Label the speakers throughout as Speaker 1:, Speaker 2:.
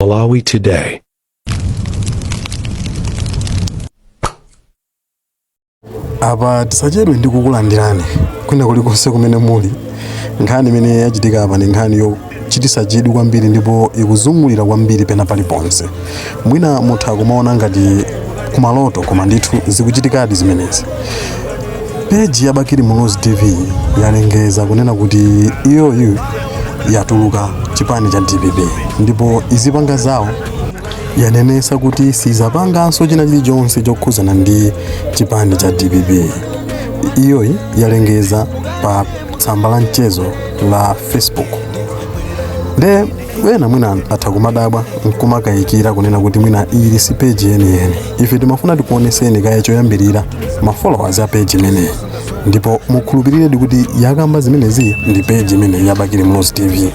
Speaker 1: Malawi Today.
Speaker 2: apa tisachedwe ndi kukulandirani kwina kulikonse kumene muli nkhani imene yachitika apa ndi nkhani yochitisa chidwi kwambiri ndipo ikuzungulira kwambiri pena paliponse mwina mutha kumaona ngati kumaloto koma ndithu zikuchitikadi zimenezi peji ya bakili muluzi tv yalengeza kunena kuti iyoyi yatuluka chipani cha dpp ndipo izipanga zawo yanenesa kuti sizapanganso china chilichonse chokhuzana ndi chipani cha dpp iyoyi yalengeza pa tsamba la mchezo la facebook nde ena mwina atha kumadabwa nkumakayikira kunena kuti mwina ili si peji yeniyeni ife timafuna tikuoneseni kaye choyambirira ma followers a peji imeneyi ndipo mukhulupiriredi kuti yakamba zimenezi ndi peji imeneyi ya bakili muluzi tv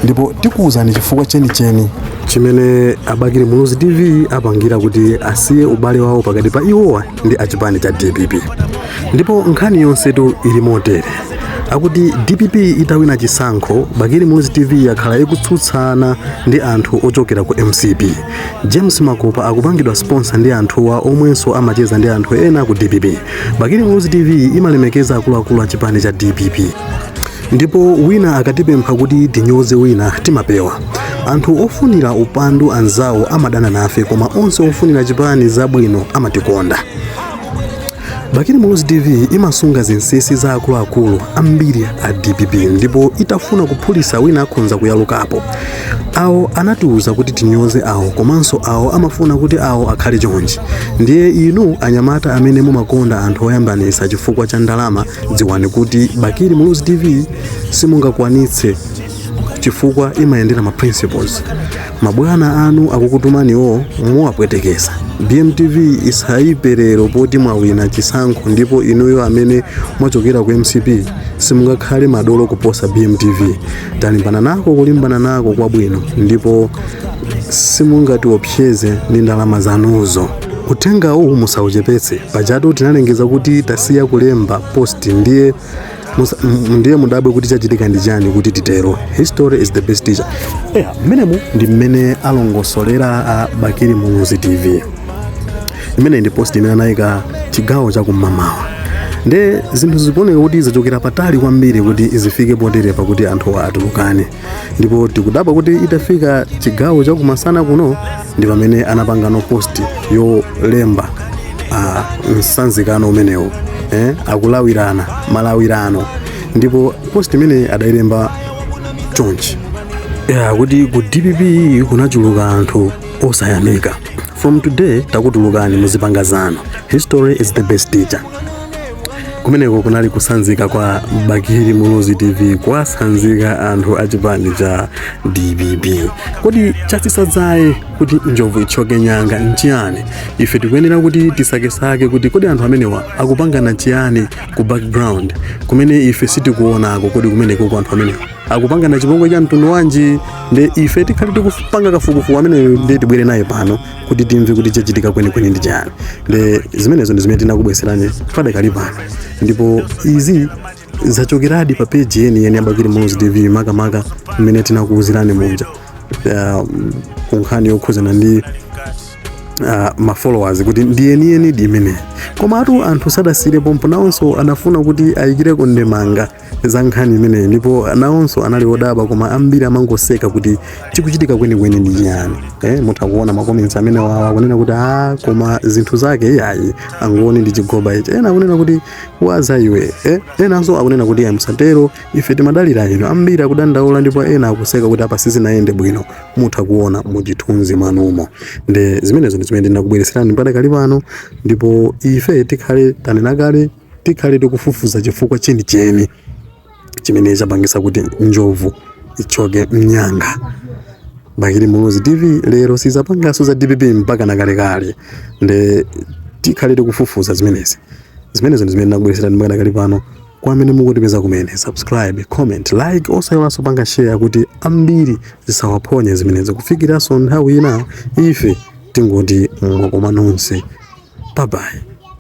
Speaker 2: ndipo tikuwuzani chifukwa chenicheni chimene abakili muluzi tv apangira kuti asiye ubale wawo pakati pa iwowa ndi achipani cha dpp ndipo nkhani yonsetu ili motere akuti dpp itawina chisankho bakili muluzi tv yakhala ikutsutsana ndi anthu ochokera ku mcp james makopa akupangidwa sponsor ndi anthuwa omwenso amacheza ndi anthu ena ku dpp bakili muluzi tv imalemekeza akuluakulu a chipani cha dpp ndipo wina akatipempha kuti tinyoze wina timapewa anthu ofunira upandu anzawo amadana nafe koma onse ofunira chipani zabwino amatikonda bakili muluzi tv imasunga zinsisi za akuluakulu ambiri a dpp ndipo itafuna kuphulisa wina akhonza kuyalukapo awo anatiuza kuti tinyoze awo komanso awo amafuna kuti awo akhale chonchi ndiye inu anyamata amene mumakonda anthu oyambanisa chifukwa cha ndalama dziwani kuti bakili muluzi tv simungakwanitse chifukwa imayendera ma principles mabwana anu akukutumaniwo muwapwetekesa bmtv isaipe lero poti mwawina chisankho ndipo inuyo amene mwachokera ku mcp simungakhale madolo kuposa bmtv talimbana nako kulimbana nako kwabwino ndipo simungatiopseze ndi ndalama zanuzo Uthenga uwu musauchepetse. Pajatu tinalengeza kuti tasiya kulemba post ndiye musa- m- ndiye mudabwe kuti chachitika ndi chani kuti titero. History is the best teacher. Eya, mmenemu ndi mmene alongosolera a Bakili Muluzi TV. Imeneyi ndi post imene anayika chigawo cha kumamawa. Nde zinthu zikuoneka kuti zachokera patali kwambiri kuti zifike poterepa kuti anthu atulukane. ndipo tikudabwa kuti itafika chigawo cha kumasana kuno ndi pamene anapanga no post yolemba ah, msanzikano umenewo eh, akulawirana malawirano ndipo post imene adayilemba chonchi kuti ku dpp kunachuluka anthu osayamika from today takutulukani muzipanga zanu history is the best teacher kumeneko kunali kusanzika kwa bakili muluzi tv kwasanzika anthu a chipani cha dpp kodi chatsitsa dzaye kuti njovu itchoke nyanga nchiyani ife tikuyenera kuti tisakesake kuti kodi anthu amenewa akupangana chiyani ku background kumene ife sitikuonako kodi kumeneko kwa anthu amenewa akupangana chipongwe cha mtundu wanji nde ife tikhale tikupanga kafukufuku ameneyo nde tibwere naye pano kuti timve kuti chachitika kwenikweni ndi chani nde zimenezo ndi zimene tinakubweserani padakali pano ndipo izi zachokeradi pa peji yeniyeni ya bakili muluzi tv makamaka mmene tinakuwuzirani muja uh, kunkhani yokhuzana ndi uh, mafollowers kuti ndi yeniyenidi imeneyi komatu anthu sadasiire pompo nawonso anafuna kuti ayikireko ndemanga za nkhani imeneyi ndipo nawonso anali odabwa koma ambiri amangoseka kuti chikuchitika kwenikweni ndi chiyani eh, mutha kuona makomensi amenewa akunena kuti a koma zinthu zake iyayi angoni ndi chigoba ichi ena akunena kuti waza iwe eh, enanso akunena kuti a musatero ife timadalira inu ambiri akudandaula ndipo ena akuseka kuti apa sizinayende bwino mutha kuona muchithunzi mwanumo nde zimenezo ndi zimene ndinakubweretserani padakali pano ndipo ife tikhale tanena kale tikhale tikufufuza chifukwa chenicheni chimene chapangisa kuti njovu ichoke mnyanga bakili muluzi tv lero sizapangaso za dpp mpaka nakalekale nde tikhale tikufufuza zimenezi zimenezo ndizimene ndakubwereserani padakali pano kwa amene mukutipeza kumene subscribe comment like osayiwalaso kupanga share kuti ambiri zisawaphonye zimenezo kufikiraso nthawi ina ife tingoti mwakoma nonse babayi